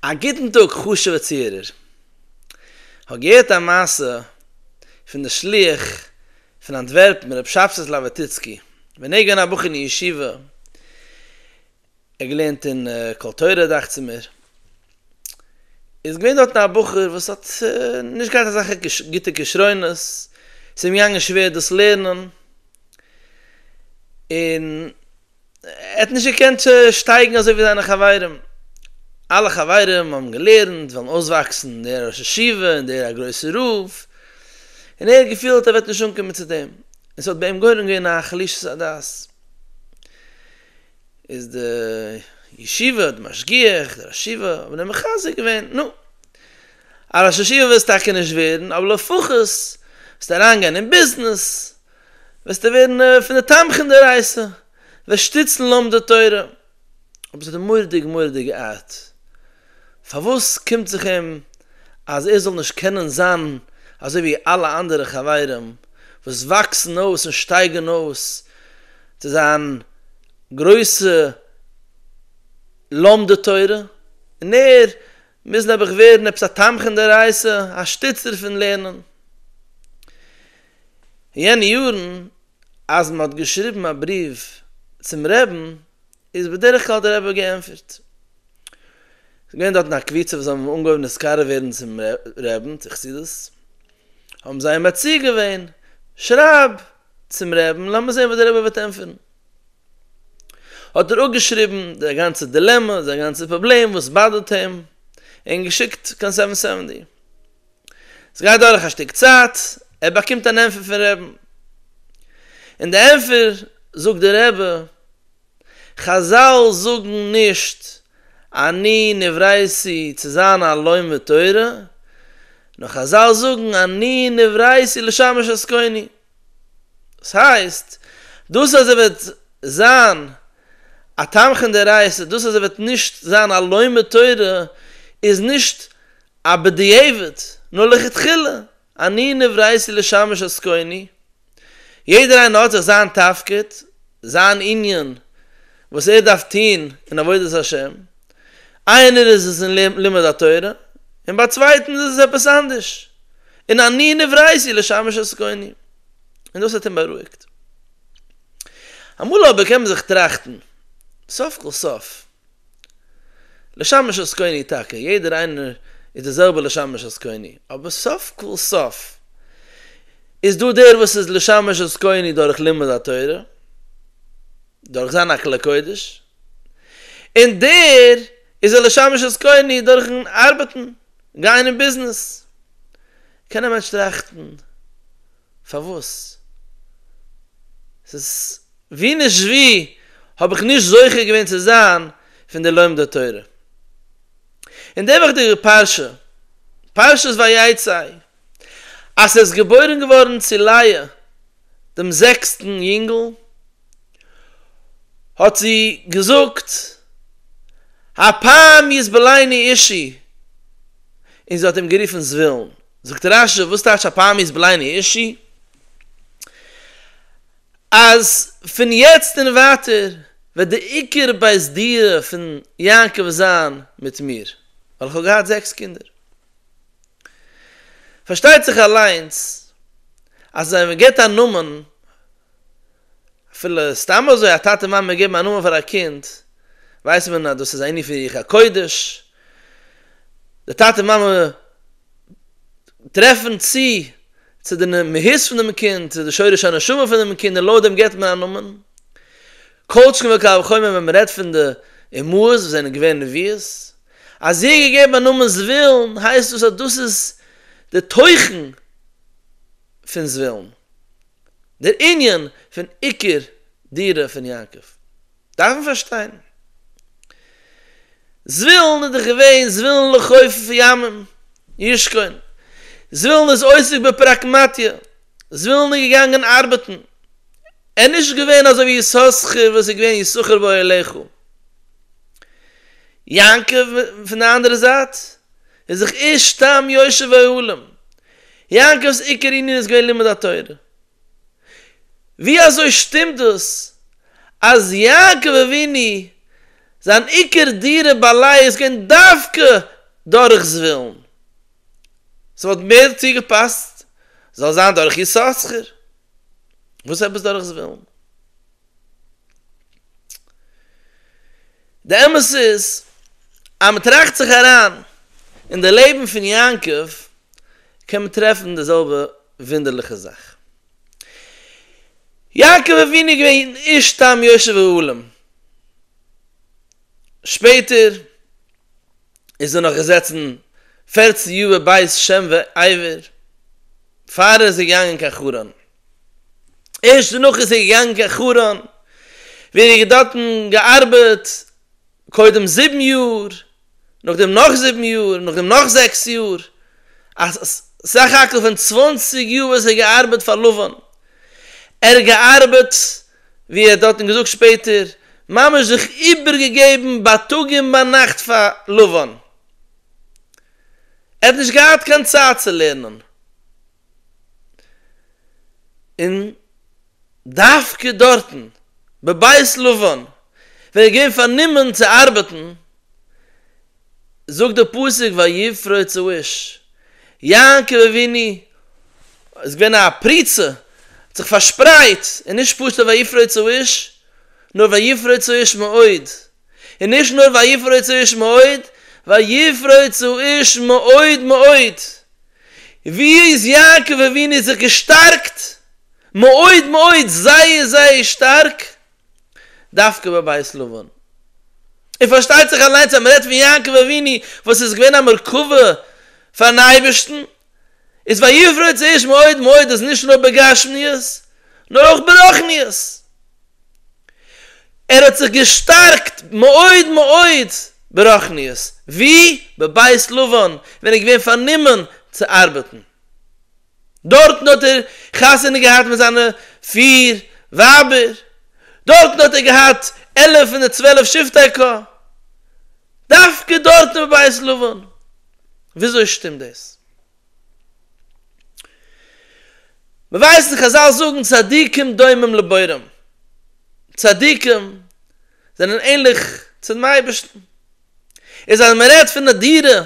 א גוטן טאג חשוב'ע צוהערער. כ'האב געהערט א מעשה פון די שליח פון אנטווערפן רב שבתאי זלאוועטיצקי, ווען ער איז געווען א בחור אין ישיבה, ער האט געלערנט אין קול תורה דאכצעמער, איז געווען דארטן א בחור וואס האט נישט געהאט אזעלכע גוטע כשרונות, ס'איז אים געגאנגען שווער דאס לערנען, און ער האט נישט געקענט שטייגן אזוי ווי זיינע חברים, אלע חברים האבן געלערנט, ווילן אויסוואקסן, דער ראש ישיבה און דער א גרויסע רב, און ער האט געפילט ער וועט נישט אנקומען צו דעם, און ס'האט ביי אים גורם געווען א חלישות הדעת, איז די ישיבה, די משגיח, דער ראש ישיבה האבן אים מחזק געווען, נו, א ראש ישיבה וועסטו טאקע נישט ווערן, אבער לפחות וועסטו אריינגיין אין ביזנעס, וועסטו ווערן פון די תומכים דערייסער, וועסט שטיצן לומדי תורה, אבער ס'איז די מורא'דיג מורא'דיגע ארט, פארוואס קומט זיך אים אז ער זאל נישט קענען זיין אזוי ווי אלע אנדערע חברים וואס וואקסן אויס און שטייגען אויס צו זיין גרויסע לומדי תורה, און ער מוז נעבעך ווערן עפעס א תומכים דערייסער, א שטיצער פון לערנען. אין יענע יארן אז מען האט געשריבן א בריוו צום רעבן איז בדרך כלל דער רבי געענטפערט. ס'איז געווען דארטן א קבוצה וואס האבן אנגעהויבן נתקרב ווערן צום רעבן צו חסידות, האבן זיי אים מציע געווען, שרייב צום רעבן לאמיר זען וואס דער רבי וועט ענטפערן. האט ער אפגעשריבן זיין גאנצע דילעמע, זיין גאנצע פראבלעם וואס באדערט אים, און געשיקט קיין סעווען סעווענטי. ס'גייט דורך א שטיק צייט, ער באקומט אן ענטפער פון רעבן. אין די ענטפער זאגט דער רבי, חזל זאגן נישט אני נברייתי צו זיין א לומד תורה, נאר חזל זאגן אני נברייתי לשמש עסקני. דאס הייסט, דאס אז ער וועט זיין א תומכין דאורייתא, דאס אז ער וועט נישט זיין א לומד תורה, איז נישט א בדיעבד, נאר לכתחילה, אני נבראתי לשמש עסקני, יעדער איינער האט זיך זיין תפקיד, זיין ענין וואס ער דארף טון אין עבודת השם, איינער איז עס אין לימוד התורה, און ביי צווייטענס איז עס עפעס אנדערש, און אני נבראתי לשמש עסקני, און דאס האט אים בארואיגט. אמאל אבער קען מען זיך טראכטן, סוף כל סוף, לשמש את קוני טאקע, יעדער איינער איז די זעלבע לשמש את קוני, אבער סוף כל סוף איז דא דער וואס איז לשמש את קוני דורך לימוד התורה, דורך זיין א כלי קודש, און דער איז א לשמש את קוני דורכן ארבעטן, גיין אין ביזנעס. קען א מענטש טראכטן. פארוואס? ס'איז ווי נישט ווי האב איך נישט זוכה געווען צו זיין פון די לומדי תורה. אין די וועכטיגע פרשה, פרשת ויצא, אז ס'איז געבוירן געווארן צו לאה דעם זעקסטן יונגל, האט זי געזאגט, הפעם יזבלני אישי, און זי האט אים גערופן זבולון. זאגט רש י וואס טייטש א פאר מוז בלייען הירשי? אז פון יעצט און ווייטער וועט די עיקר בית דירה פון יעקב זיין מיט מיר, ווייל איך האב געהאט זעקס קינדער. פארשטייט זיך אליינס אז ווען מען געבט א נאמען אפילו סתם אזוי א טאטע מאמע געבן א נאמען פאר א קינד ווייסט מען אז דאס איז א ענין פון רוח הקודש, די טאטע מאמע טרעפן צו צו די מהות פון דעם קינד, צו די שורש הנשמה פון דעם קינד און לויט דעם געבט מען א נאמען, כל שכן וקל וחומר ווען מ'רעדט פון די אמהות וואס זענען געווען נביאות, אז זי האט געגעבן א נאמען זבולון הייסט דאס אז דאס איז די תוכן פון זבולון, דער ענין פון עיקר דירה פון יעקב דארף מען פארשטיין. זבולון איז דאך געווען זבולון לחופף ימים ישכון, זבולון איז עוסק בפראקמטיא, זבולון איז געגאנגען ארבעטן, ער איז נישט געווען אזוי ווי יששכר וואס איז געווען יששכר ואוהליך. יעקב פון די אנדערע זייט. און זיך ערשט סתם יושב העולם. יעקב'ס עיקר ענין איז געווען לימוד התורה. ווי אזוי שטימט דאס אז יעקב אבינו זיין עיקר דירה ביי לאה איז געווען דווקא דורך זבולון? ס'וואלט מער צוגעפאסט זאל זיין דורך יששכר. וואס עפעס דורך זבולון? די אמת איז אז מען טראכט זיך אריין אין די לעבן פון יעקב קען מען טרעפן די זעלבע וואונדערליכע זאך. יעקב אבינו איז געווען אן איש תם יושב אהלים, שפעטער איז ער נאך געזעצן פערצן יאר בבית שם ועבר פאר ער איז געגאנגען קיין חרן. ערשט דערנאך איז ער געגאנגען קיין חרן ווי ער האט דארטן געארבעט קודם זיבן יאר, נאכדעם נאך זיבן יאר, און נאכדעם נאך זעקס יאר, א סך הכל פון צוואנציג יאר וואס ער האט געארבעט פאר לבן, ער האט געארבעט ווי ער האט דארטן געזאגט שפעטער, ממש זיך איבערגעגעבן בייטאג און ביינאכט פאר לבן, ער האט נישט געהאט קיין צייט צו לערנען. און דווקא דארטן, בבית לבן, ווען ער איז געווען פארנומען צו ארבעטן, זאגט דער פסוק ויפרוץ האיש, יעקב אבינו איז געווען א פריצה, האט זיך פארשפרייט, און נישט פשוט'ע ויפרוץ האיש, נאר ויפרוץ האיש מאוד. און נישט נאר ויפרוי צו איש מאוד, ויפרוי צו איש מאוד מאוד, ווי איז יעקב אבינו זיך געשטארקט מאוד מאוד זייער זייער שטארק דווקא בבית לבן, און פארשטייט זיך אליינס אז מען רעדט פון יעקב אבינו וואס איז געווען א מרכבה פארן אייבערשטן, איז ויפרוי צו איש מאוד מאוד איז נישט נאר בגשמיות נאר אויך ברוחניות. ער האט זיך געשטארקט מאוד מאוד ברחניות, ווי? בבית לבן, ווען ער איז געווען פארנומען צו ארבעטן. דארטן האט ער חתונה געהאט מיט זיינע פיר ווייבער, דארטן האט ער געהאט עלף פון די צוועלף שבטי ק, דווקא דארטן בבית לבן, וויאזוי שטימט דאס? מען ווייסט און חזל זאגן צדיקים דומים לבוראים, צדיקים זענען ענליך צום אייבערשטן, איז אז מען רעדט פון א דירה,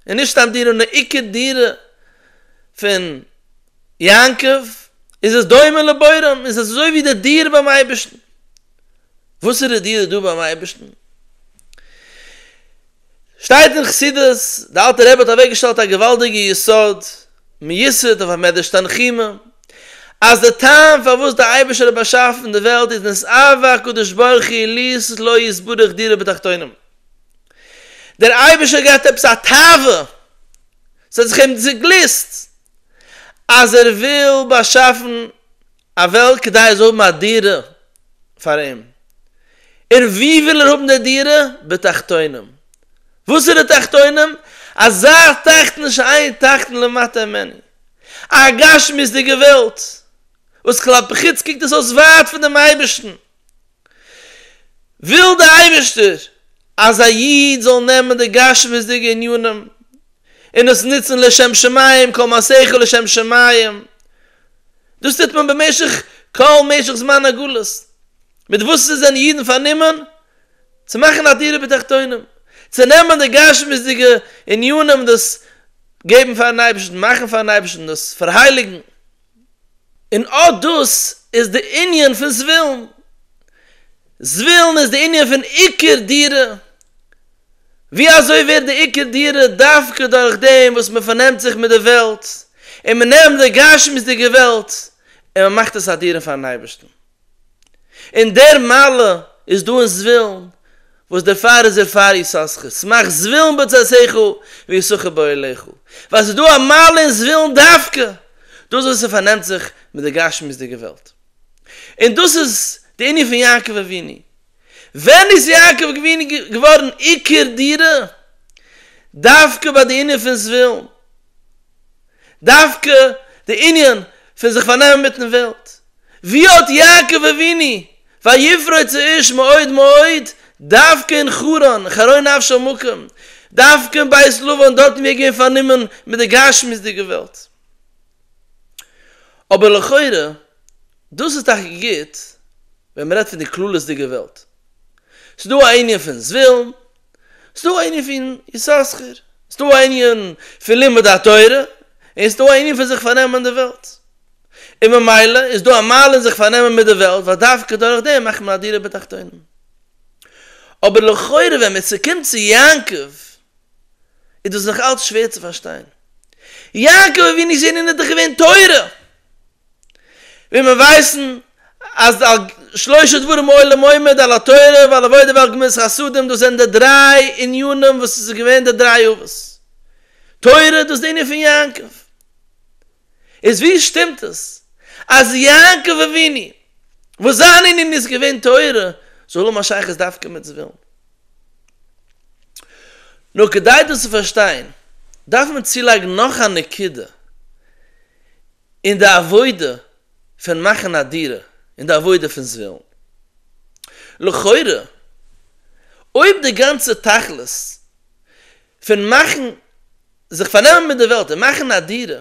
און נישט סתם דירה נאר עיקר דירה פון יעקב, איז עס דומה לבוראים, איז עס אזוי ווי די דירה ביים אייבערשטן. וואסערע דיר איז דא ביים אייבערשטן? שטייט אין חסידות, די אלטע רבי האט אוועק געשטעלט א געוואלדיגע יסוד, מיוסד אויף א מדרש תנחומא, אז די טעם פארוואס די אייבערשטער האט באשאפן די וועלט איז נס אהבה הקדוש ברוך הוא ליז לא יתברך דירה בתחתונים, דער אייבערשטער האט געהאט עפעס א תאווה, ס'האט זיך אים צוגליסט אז ער וויל באשאפן א וועלט כדי ער זאל האבן א דירה, פאר אים, און ווי וויל ער האבן די דירה? בתחתונים. וואס איז די תחתונים? אזא תחתון שאין תחתון למטה ממנו. א גשמיות'דיגע וועלט, וואס כלפי חוץ קוקט עס אויס ווייט פון דעם אייבערשטן, וויל דער אייבערשטער אז א איד זאל נעמען די גשמיות'דיגע ענינים און עס נוצן לשם שמים, כל מעשיך לשם שמים, דאס טוט מען במשך כל משך זמן הגלות, מיט וואס ס'זענען אידן פארנומען צו מאכן א דירה בתחתונים, צו נעמען די גשמיות'דיגע עניינים און דאס געבן פאר'ן אייבערשטן, מאכן פאר'ן אייבערשטן, דאס פארהייליגן. און אט דאס איז די ענין פון זווילן. זווילן איז די ענין פון עיקר דירה, ווי אזוי ווערט די עיקר דירה דווקא דורך דעם וואס מען פארנעמט זיך מיט די וועלט, און מען נעמט די גשמיות'דיגע וועלט און מען מאכט עס א דירה פארן אייבערשטן? און דער מעלה איז דא אין זווילן, וואס דערפאר איז ער פאר יששכר, שמח זווילן בצאתיך ויששכר באוהליך, ווייל עס איז דא א מעלה אין זווילן דווקא דאס וואס עס פארנעמט זיך מיט די גשמיות'דיגע וועלט, און דאס איז די ענין פון יעקב אבינו, ווען איז יעקב געווען געווארן עיקר דירה? דווקא ביי די ענין פון זווילן? דווקא די ענין פון זיך פארנעמען מיטן וועלט? ווי האט יעקב אבינו ויפרע צו איש מאוד מאוד דווקא אין חרן, חרון נפשו מקום, דווקא אין בית לבן דארטן ווי ער איז געווען פארנומען מיט די גשמיות'דיגע וועלט? אבער לכאורה דאס איז טאקע גוט ווען מ'רעדט פון די כללית'דיגע וועלט. ס'דא א ענין פון זווילן, ס'דא א ענין פון יששכר, ס'דא א ענין פון לימוד התורה, און ס'דא א ענין פון זיך פארנעמען די וועלט. און ממילא איז דא א מעלה אין זיך פארנעמען מיט די וועלט ווייל דווקא דורך דעם מאכט מען א דירה בתחתונים. אבער לכאורה ווען מ'צוקומט צו יעקב איז דאס נאך אלץ שווער צו פארשטיין. יעקב אבינו זעהן איז דאך געווען תורה, ווי מיר ווייסן אז שלושה דברים העולם עומד על התורה ועל עבודה ועל גמילות חסדים דאס זענען די דריי עניינים וואס עס איז געווען די דריי אבות תורה דאס די ענין פון יעקב. איז ווי שטימט עס אז יעקב אבינו וואס זיין ענין איז געווען תורה זאל האבן א שייכות דווקא מיט זבולון? נאר כדי דאס צו פארשטיין דארף מען צולייגן נאך א נקודה אין די עבודה פון מאכן א דירה אין די עבודה פון זבולון. לכאורה אויב די גאנצע תכלית פון מאכן זיך פארנעמען מיט די וועלט און מאכן א דירה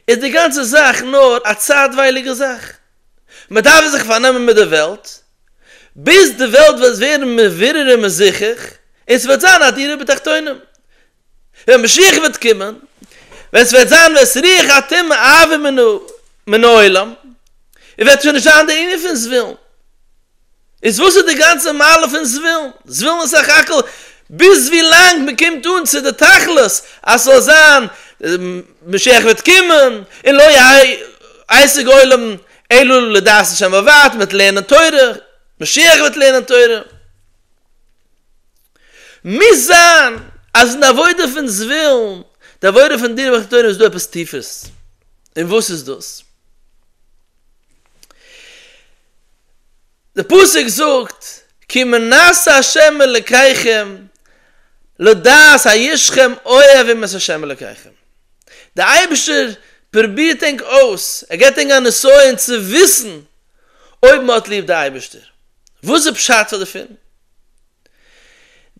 איז די גאנצע זאך נאר א צייטווייליגע זאך, מען דארף זיך פארנעמען מיט די וועלט ביז די וועלט וועט ווערן מברר און מזוכח און ס'וועט זיין א דירה בתחתונים ווען משיח וועט קומען, ווען ס'וועט זיין וועס רוח הטומאה אעביר מן העולם און וועט שוין נישט זיין די ענין פון זבולון איז וואס איז די גאנצע מעלה פון זווילן? זווילן איז סך הכל ביז ווי לאנג מען קומט אן צו די תכלית אז ס'זאל זיין משיח וועט קומען און לא יעסיק עולם אלא לדעת השם בלבד, מ'וועט לערנען תורה, משיח וועט לערנען תורה. מוז זיין אז אין די עבודה פון זווילן, די עבודה פון דרך התורה איז דא עפעס טיפערס. און וואס איז דאס? די פסוק זאגט כי מנסה השם אלקיכם לדעת הישכם אוהבים את השם אלקיכם, די אייבערשטער פרובירט ענק אויס, ער געבט ענק א נסיון צו וויסן אויב מען האט ליב די אייבערשטער, וואס איז פשט פאר דערפון?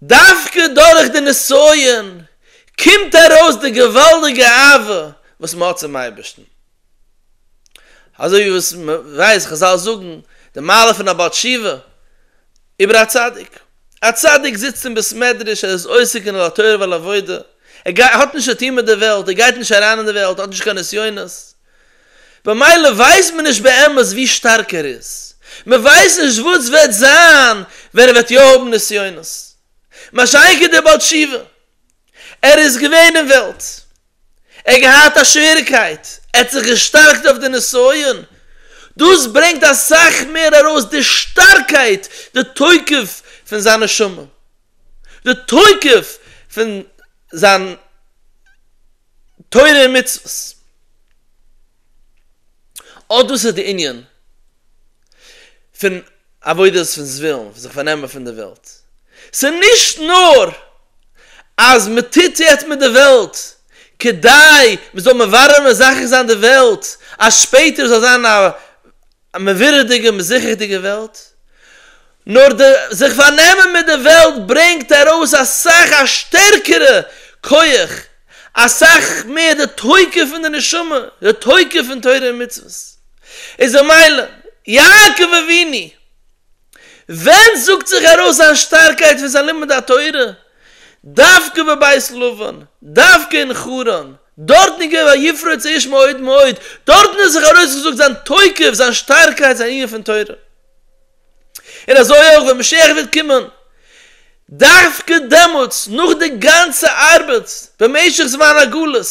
דווקא דורך די נסיון קומט ארויס די געוואלדיגע אהבה וואס מען האט צום אייבערשטן. אזוי ווי וואס מען ווייסט חזל זאגן די מעלה פון א בעל תשובה איבער א צדיק, א צדיק זיצט אין בית מדרש ער איז עוסק אין על תורה ועל עבודה, ער גייט האט נישט צו טון מיט די וועלט, ער גייט נישט אריין אין די וועלט, ער האט נישט קיין נסיונות, במילא ווייסט מען נישט באמת ווי שטארק ער איז, מען ווייסט נישט וואס וועט זיין ווען ער וועט יא האבן נסיונות, מה שאין כן דער בעל תשובה. ער איז געווען אין וועלט, ער האט געהאט א שוועריקייט, ער האט זיך געשטארקט אויף די נסיון, דאס ברענגט אסאך מער ארויס די שטארקייט, די תוקף פון זיין נשמה, די תוקף פון זיין תורה און מצוות. אט דאס איז די ענין פון עבודה פון זווילן, פון זיך פארנעמען פון די וועלט. ס'איז נישט נאר אז מען טוט יעצט מיט די וועלט כדי מען זאל מברר מזכה זיין די וועלט אז שפעטער זאל זיין א א מערווירדיגע מזרחי'דיגע וועלט, נאר די זיך פארנעמען מיט די וועלט ברענגט ארויס אסאך א שטערקערע כח, אסאך מער די תוקף פון די נשמה, די תוקף פון תורה און מצוות. איז ממילא, יעקב אבינו, ווען זאגט זיך ארויס זיין שטארקייט פון זיין לימוד התורה, דווקא בבית לבן, דווקא אין חרן, דארטן איז געווען ויפרוץ האש מאוד מאוד, דארטן האט זיך ארויסגעזאגט זיין תוקף, זיין שטארקייט, זיין ענין פון תורה. און אזוי אויך ווען משיח וועט קומען, דווקא דעמאלטס, נאך די גאנצע ארבעט במשך זמן הגלות,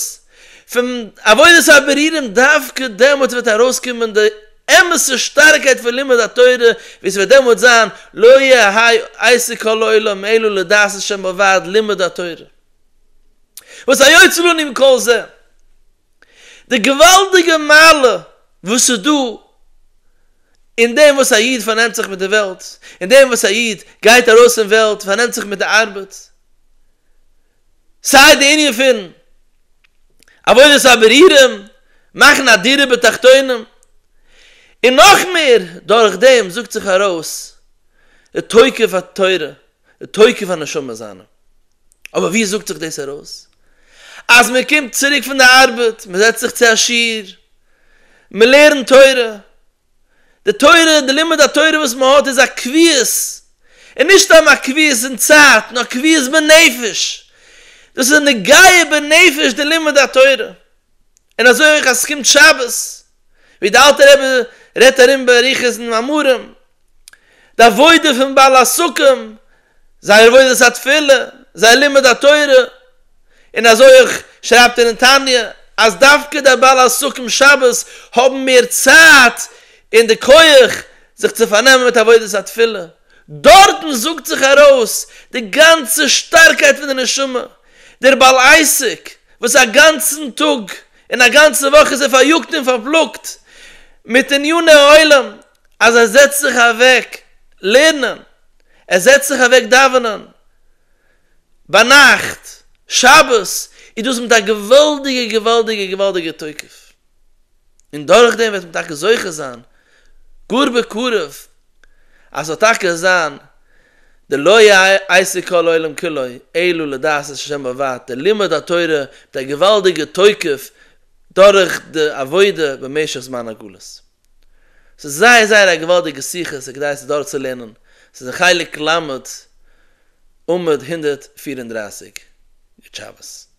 פון עבודת הבערירונג דווקא דעמאלט וועט ארויסקומען די אמת'ע שטארקייט פון לימוד התורה, ווי ס'וועט דעמאלט זיין לא יהיה היה עסק כל העולם אלא לדעת השם בלבד, לימוד התורה. וואס היוצא לנו מכל זה? די געוואלדיגע מעלה וואס איז דא אין דעם וואס א איד פארנעמט זיך מיט די וועלט, אין דעם וואס א איד גייט ארויס אין וועלט, פארנעמט זיך מיט די ארבעט, סיי די ענין פון עבודת הבערירים, מאכן א דירה בתחתונים, און נאך מער, דורך דעם זאגט זיך ארויס די תוקף התורה, די תוקף הנשמה זיינע. אבער ווי זאגט זיך דאס ארויס? אז מען קומט צוריק פון די ארבעט, מען זעצט זיך צו א שיעור, מען לערנט תורה, די תורה, די לימוד התורה וואס מען האט איז א קביעות, און נישט סתם א קביעות אין צייט, נאר קביעות בנפש, דאס איז נוגע בנפש די לימוד התורה, און אזוי אויך אז עס קומט שבת, ווי די אלטע רבי רעדט ארום באריכות אין מאמרים, די עבודה פון בעל הסוכה, זייער עבודת התפילה, זייער לימוד התורה, און אזוי אויך שרייבט ער אין תניא אז דווקא דער בעל הסוכים שבת האבן מער צייט און די כח זיך צו פארנעמען מיט עבודת התפילה, דארטן זאגט זיך ארויס די גאנצע שטארקייט פון די נשמה, דער בעל עסק וואס א גאנצן טאג און א גאנצע וואך איז ער פאריאגט און פארפלאגט מיט עניני העולם, אז ער זעצט זיך אוועק לערנען, ער זעצט זיך אוועק דאווענען ביינאכט, שבת, איז דאס מיט א געוואלדיגע געוואלדיגע געוואלדיגע תוקף, און דורכדעם וועט מען טאקע זוכה זיין גאר בקרוב אז ס'זאל טאקע זיין די לא יעשה כל העולם כולו אלא לדעת את השם בלבד, די לימוד התורה מיט א געוואלדיגע תוקף דורך די עבודה במשך זמן הגלות. ס'איז זייער זייער א געוואלדיגע שיחה, ס'כדאי עס דורכצולערנען, ס'איז אין חלק ל' עמוד הונדערט פֿיר און דרײַסיק, גוט שבת.